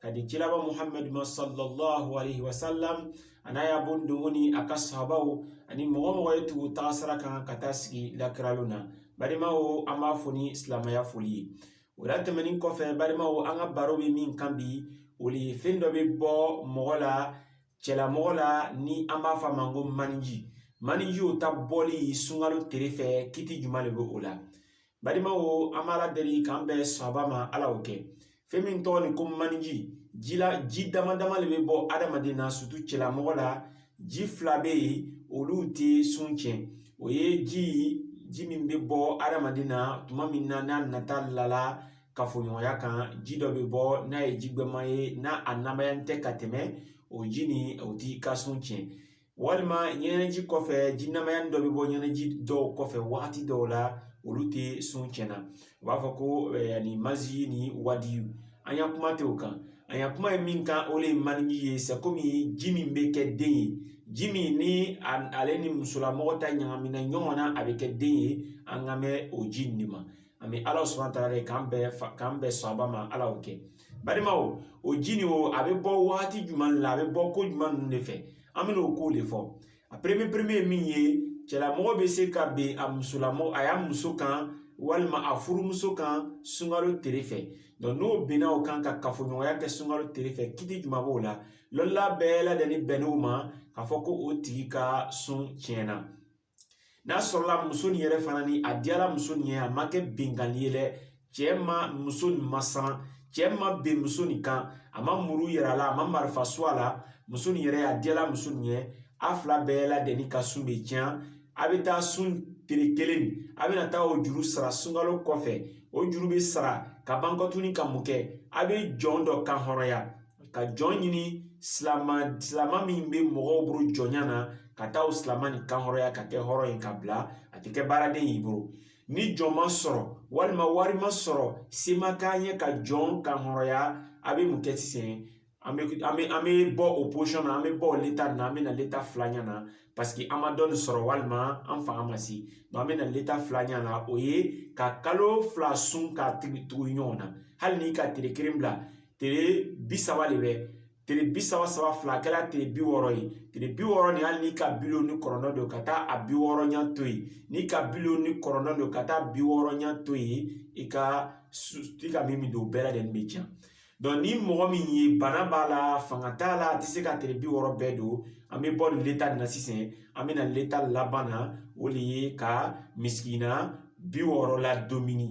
ka di kiraba muhamadu ma sallallahu alaihi wasallam a n'a ya bon dongo ni a ka sahabaw ani mɔgɔ o mɔgɔ ye tugu taga sira kan ka taa sigi lakira lon na balimaw an b'a fo ni silamaya foli ye o la tɛmɛnin kɔfɛ balimaw an ka baro bɛ min kan bi o de ye fɛn dɔ bɛ bɔ mɔgɔ la cɛlamɔgɔ la ni an b'a fɔ a ma ko maniji maniji o ta bɔli sunkalo tere fɛ kiti juman de bɛ o la balimaw an b'ala deli k'an bɛn sawaba ma ala y'o kɛ fɛn min tɔgɔnin ko maniji ji la ji dama dama de bɛ bɔ adamaden na sutu cɛlamɔgɔ la ji fila bɛ yen olu tɛ sun tiɲɛ o ye ji ji min bɛ bɔ adamaden na tuma min na n'a nata lala kafoɲɔgɔnya kan ji dɔ bɛ bɔ n'a ye ji gbɛma ye n'a a namaya tɛ ka tɛmɛ o ji nin o t'i ka sun tiɲɛ walima ɲɛnɛji kɔfɛ ji namaya dɔ bɛ bɔ ɲɛnɛji dɔw kɔfɛ wagati dɔw la olu tɛ sun tiɲɛ n'u b'a fɔ ko mazi ni wadiyu an ya kuma tɛ o kan an ya kuma ye min kan o de ye maniji ye sɛkomi ji min bɛ kɛ den ye ji min ni ale ni musolamɔgɔ ta ɲagamina ɲɔgɔn na a bɛ kɛ den ye an kan bɛ o ji nin de ma an bɛ ala subahana taala deli k'an bɛn sawaba ma ala y'o kɛ balimaw o ji nin o a bɛ bɔ wagati jumɛn la a bɛ bɔ ko jumɛn ninnu de fɛ an bɛna o ko de fɔ a peremiye peremiye ye min ye cɛlamɔgɔ bɛ se ka ben a musolamɔgɔ a ya muso kan walima a furumuso kan sunkalo tere fɛ dɔn n'o benna o kan ka kafoɲɔgɔnya kɛ sunkalo tere fɛ kiti juman b'o la lɔnnila bɛɛ ladɛnnin bɛnn'o ma k'a fɔ ko o tigi ka sun tiɲɛna n'a sɔrɔla muso nin yɛrɛ fana ni a diyala muso nin ye a ma kɛ benkanni ye dɛ cɛ ma muso nin masiran cɛ ma ben muso nin kan a ma muru yira a la a ma marifa su a la muso nin yɛrɛ a diyala muso nin ye a fila bɛɛ ladɛnnin ka sun bɛ tiɲɛ a bɛ taa sun tere kelen a bɛna taa o juru sara sunkalo kɔfɛ o juru bɛ sara ka ban kɔ tuguni ka mun kɛ a bɛ jɔn dɔ kan hɔrɔnya ka jɔn ɲini silama silama min bɛ mɔgɔw bolo jɔnya na ka taa o silama nin kan hɔrɔnya ka kɛ hɔrɔn ye ka bila a tɛ kɛ baaraden y'i bolo ni jɔn ma sɔrɔ walima wari ma sɔrɔ se ma k'a ye ka jɔn kan hɔrɔnya a bɛ mun kɛ sisan an bɛ an bɛ an bɛ bɔ o posɔn na an bɛ bɔ o leta na an bɛ na leta filanya na paseke an ma jɔn nin sɔrɔ walima an fanga ma se dɔn an bɛ na leta filanya na o ye ka kalo fila sun ka tugu ɲɔgɔn na hali n'i ka tere kelen bila tere bi saba de bɛ tere bi saba saba fila kɛla tere bi wɔɔrɔ ye tere bi wɔɔrɔ nin hali n'i ka bi loolu ni kɔnɔntɔn don ka taa a bi wɔɔrɔnya to yen n'i ka bi loolu ni kɔnɔntɔn don ka taa bi wɔɔrɔnya to yen i ka min min don o bɛɛ ladɛnnin bɛ tiɲɛ dɔn ni mɔgɔ min ye bana b'a la fanga t'a la a tɛ se ka tere bi wɔɔrɔ bɛɛ don an bɛ bɔ nin leta nin na sisan an bɛ na leta laban na o de ye ka misikina bi wɔɔrɔ ladomini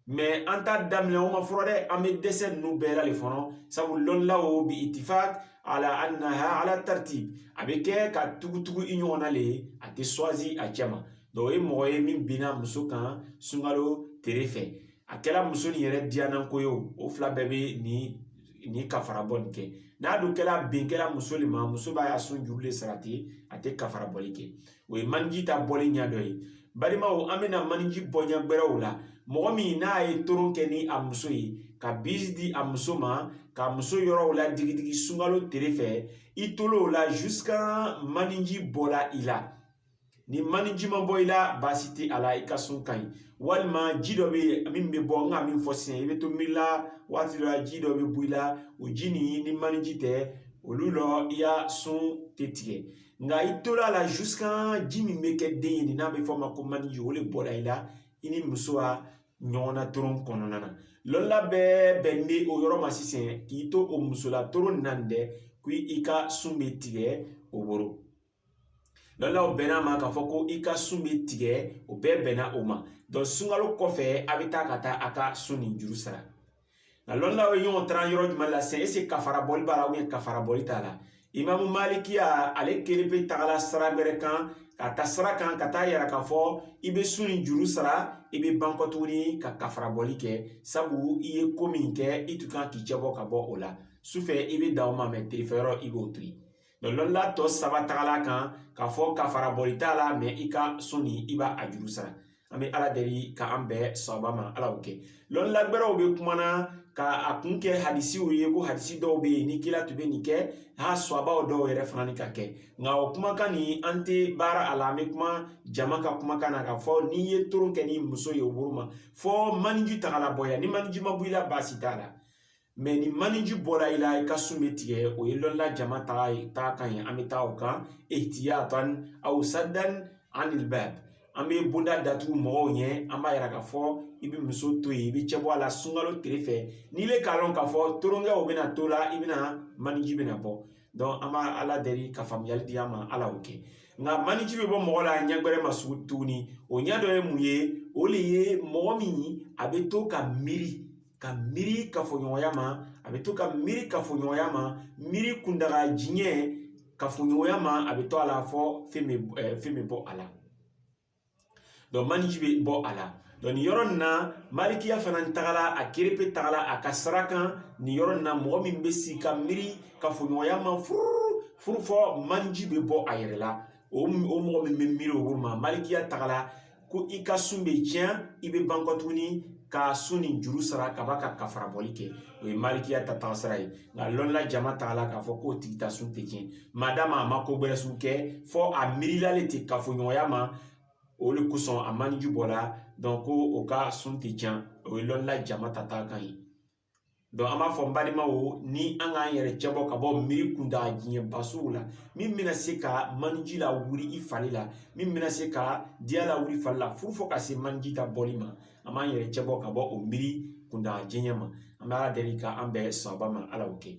mɛ an t'a daminɛ o ma fɔlɔ dɛ an bɛ dɛsɛ ninnu bɛɛ la le fɔlɔ sabu lɔnnilaw bi itifak ala anaha ala tartib a bɛ kɛ ka tugutugu i ɲɔgɔn na le a tɛ swazi a cɛ ma dɔnku o ye mɔgɔ ye min binna muso kan sunkalo tere fɛ a kɛla muso nin yɛrɛ diyananko ye o fila bɛɛ bɛ nin kafara bɔ nin kɛ n'a dun kɛla bin kɛla muso le ma muso b'a ya sun juru le sara ten a tɛ kafara bɔli kɛ o ye maniji ta bɔli ɲɛ dɔ ye balimaw an bɛna maniji bɔ ɲɛ gbɛrɛw la mɔgɔ min n'a ye toron kɛ ni a muso ye ka bisi di a muso ma ka muso yɔrɔw la digidigi sunkalo tere fɛ i tola o la jusqu'à maniji bɔla i la ni maniji ma bɔ i la baasi tɛ a la i ka sun ka ɲi walima ji dɔ bɛ yen min bɛ bɔ n ka min fɔ sisan i bɛ to miiri la waati dɔ la ji dɔ bɛ bɔ i la o ji nin ni maniji tɛ olu la i ya sun tɛ tigɛ nka i tola a la jusqu'à ji min bɛ kɛ den ye nin n'a bɛ fɔ a ma ko maniji o le bɔla i la i ni muso ka ɲɔgɔnna toron kɔnɔna na lɔnnila bɛɛ bɛn bɛ o yɔrɔ ma sisan k'i to o musola toron nin na dɛ ko i ka sun bɛ tigɛ o bolo lɔnnilaw bɛnna a ma k'a fɔ ko i ka sun bɛ tigɛ o bɛɛ bɛnna o ma dɔnku sunkalo kɔfɛ a bɛ taa ka taa a ka sun nin juru sara nka lɔnnilaw ye ɲɔgɔn taran yɔrɔ jumɛn la sisan ese kafara bɔli b'a la ubiyɛn kafara bɔli t'a la imamu malikiya ale kelenpe tagala sira gbɛrɛ kan ka ta sira kan ka t'a yira k'a fɔ i bɛ sun nin juru sara i bɛ ban kɔ tuguni ka kafara bɔli kɛ sabu i ye ko min kɛ i tun kan k'i cɛ bɔ ka bɔ o la sufɛ i bɛ dan o ma mɛ terefɛ yɔrɔ i b'o to yen Mɛ lɔnla tɔ saba tagala a kan k'a fɔ kafara bɔli t'a la mɛ i ka sun nin i b'a a juru sara an bɛ ala deli ka an bɛɛ sababa ma ala y'o kɛ lɔnla gbɛrɛw bɛ kumana ka a kun kɛ hadisiw ye ko hadisi dɔw bɛ yen ni kila tun bɛ nin kɛ sahabaw dɔw yɛrɛ fana ni ka kɛ nka o kumakan nin an tɛ baara a la an bɛ kuma jama ka kumakan na k'a fɔ n'i ye toron kɛ ni muso ye o bolo ma fɔ maniji tagala bɔ yan ni maniji ma bɔ i la baasi t'a la mɛ ni maniji bɔla i la i ka sun bɛ tigɛ o ye lɔnla jama taga kan ye an bɛ taa o kan ihtiyatan aw saddan anil bab an bɛ bonda datugu mɔgɔw ɲɛ an b'a yira k'a fɔ i bɛ muso to yen i bɛ cɛ bɔ a la sunkalo tere fɛ n'ile k'a lɔn k'a fɔ toronkɛw bɛna to la i bɛna maniji bɛna bɔ dɔnku an b'a ala deli ka faamuyali di an ma ala y'o kɛ nka maniji bɛ bɔ mɔgɔ la ɲɛ gbɛrɛ ma sugu tuguni o ɲɛ dɔ ye mun ye o le ye mɔgɔ min a bɛ to ka miiri ka miiri kafoɲɔgɔnya ma a bɛ to ka miiri kafoɲɔgɔnya ma miiri kundaga jan ye kafoɲɔgɔnya ma a bɛ to a la fɔ fɛn bɛ eh, fɛn bɛ bɔ a la dɔnku maniji bɛ bɔ a la dɔnku nin yɔrɔ nin na malikiya fana tagala a kelenpe tagala a ka sira kan nin yɔrɔ nin na mɔgɔ min bɛ sigi ka miiri kafoɲɔgɔnya ma furu furu fɔ maniji bɛ bɔ a yɛrɛ la o mɔgɔ min bɛ miiri o bolo ma malikiya tagala ko i ka sun bɛ tiɲɛ i bɛ ban kɔ tuguni ka sun ni juru sara ka ban ka kafara bɔli kɛ o ye malikiya ta taga sira ye nka lɔnla jama tagala k'a fɔ k'o tigi ta sun tɛ tiɲɛ madamu a ma ko wɛrɛ si kɛ fɔ a miirila le tɛ kafoɲɔgɔnya ma o de kosɔn a maniji bɔra donc ko o ka sun tɛ tiɲɛ o ye lɔnla jama ta taga kan ye donc an b'a fɔ n balimaw ni an k'an yɛrɛ cɛbɔ ka bɔ miiri kuntaga janba sugu la min bɛna se ka maniji la wuli i fari la min bɛna se ka diya la wuli fari la furu fɔ ka se maniji ta bɔli ma an b'an yɛrɛ cɛbɔ ka bɔ o miiri kuntaga jan ma an bɛ ala deli ka an bɛɛ sababa ma ala y'o kɛ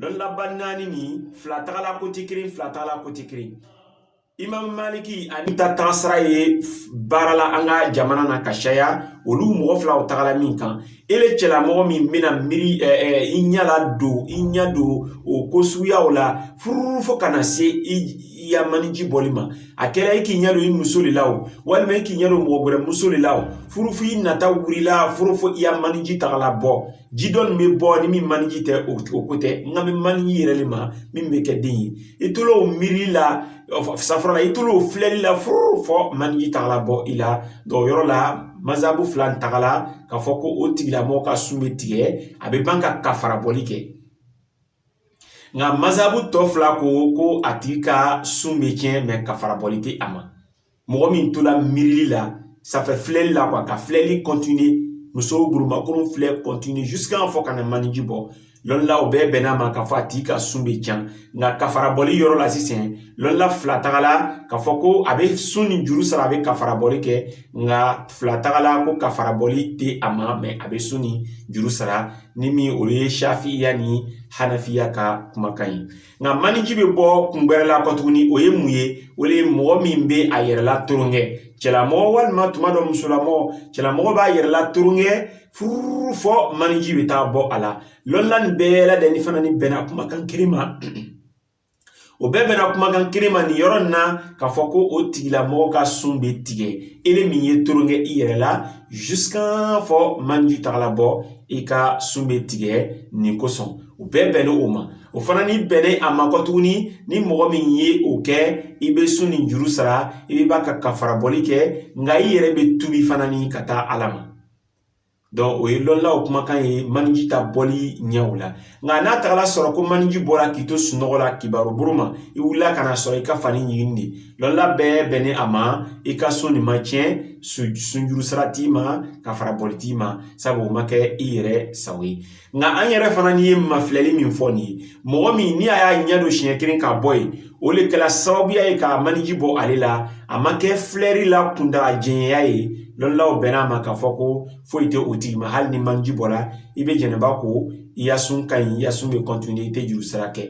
lɔnnaba naani ni fila tagala côté kelen fila tagala côté kelen imam maliki ani ta tagasira ye baara la an ka jamana na ka caya olu mɔgɔ fila u tagala min kan ele cɛlamɔgɔ min bɛna miiri i ɲɛ la don i ɲɛ don o ko suguyaw la furu furu fo ka na se i ya maniji bɔli ma a kɛra i k'i ɲɛ don i muso de la o walima i k'i ɲɛ don mɔgɔ wɛrɛ muso de la o furu f'i nata wulila furu fo i ya maniji tagala bɔ ji dɔ nin bɛ bɔ ni min maniji tɛ o ko tɛ n kan bɛ maniji yɛrɛ de ma min bɛ kɛ den ye i tol'o miirili la safurula i tol'o filɛli la furu fɔ maniji tagala bɔ i la donc o yɔrɔ la mazabu fila in tagala k'a fɔ ko o tigilamɔgɔ ka sun bɛ tigɛ a bɛ ban ka kafara bɔli kɛ nka mazabu tɔ fila ko ko a tigi ka sun bɛ tiɲɛ mɛ kafara bɔli tɛ a ma mɔgɔ min tola miirili la sanfɛ filɛli la ka filɛli kɔntiniye musow gurumakuru filɛ kɔntiniye jusqu'à fɔ ka na maniji bɔ lɔnlaw bɛɛ bɛnn'a ma k'a fɔ a tigi ka sun bɛ tiɲɛ nka kafara bɔli yɔrɔ la sisan lɔnla fila tagala k'a fɔ ko a bɛ sun ni juru sara a bɛ kafara bɔli kɛ nka fila tagala ko kafara bɔli tɛ a ma mɛ a bɛ sun ni juru sara ni min o ye shafiya ni hanafiya ka kumakan ye nka maniji bɛ bɔ kun wɛrɛ la kɔ tuguni o ye mun ye o de ye mɔgɔ min bɛ a yɛrɛ la toron kɛ cɛlamɔgɔ walima tuma dɔ musolamɔgɔ cɛlamɔgɔ b'a yɛrɛ la toron kɛ furu fɔ maniji bɛ taa bɔ a la lɔnna nin bɛɛ ladɛnin fana ni bɛnna kumakan kelen ma o bɛɛ bɛnna kumakan kelen ma nin yɔrɔ in na k'a fɔ ko o tigilamɔgɔ ka sun bɛ tigɛ ele min ye toron kɛ i yɛrɛ la jusqu'à fɔ maniji tagala bɔ i ka sun bɛ tigɛ nin kosɔn o bɛɛ bɛnnen o ma o fana ni bɛnnen a ma kɔ tuguni ni mɔgɔ min ye o kɛ i bɛ sun ni juru sara i bɛ ban ka kafara bɔli kɛ nka i yɛrɛ bɛ tubi fana ni ka taa ala ma o ye lɔnnaw kumakan ye maniji ta bɔli ɲɛw la nka n'a tagala sɔrɔ ko maniji bɔra k'i to sunɔgɔ la kibaru bolo ma i wulila ka na sɔrɔ i ka fani ɲiginin de lɔnna bɛɛ bɛnnen a ma i ka sun nin ma tiɲɛ sunjuru sara t'i ma kafara bɔli t'i ma sabu o ma kɛ i yɛrɛ sago ye nka an yɛrɛ fana ni ye mafilɛli min fɔ nin ye mɔgɔ min ni a y'a ɲɛ don siɲɛ kelen ka bɔ yen o de kɛra sababuya ye ka maniji bɔ ale la a ma kɛ filɛri la kuntaga janya ye lɔnnilaw bɛn'a ma k'a fɔ ko foyi tɛ o tigi ma hali ni maniji bɔra i bɛ jɛnɛba ko i ya sun ka ɲi i ya sun bɛ continuer i tɛ juru sara kɛ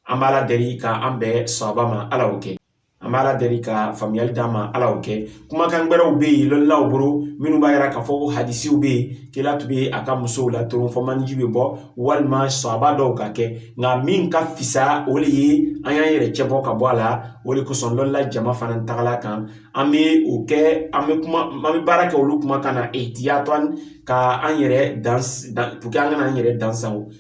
an b'ala deli ka an bɛɛ sababa ma ala y'o kɛ an b'ala deli ka faamuyali d'an ma ala y'o kɛ kumakan wɛrɛw bɛ yen lɔnnilaw bolo minnu b'a yira k'a fɔ ko hadisiw bɛ yen kila tun bɛ a ka musow la toron fɔ maniji bɛ bɔ walima sahaba dɔw k'a kɛ nka min ka fisa o de ye an y'an yɛrɛ cɛbɔ ka bɔ a la o de kosɔn lɔnnila jama fana tagala kan an bɛ o kɛ an bɛ kuma an bɛ baara kɛ olu kumakan na ihtiyatan ka an yɛrɛ dan dan an kana an yɛrɛ dan sago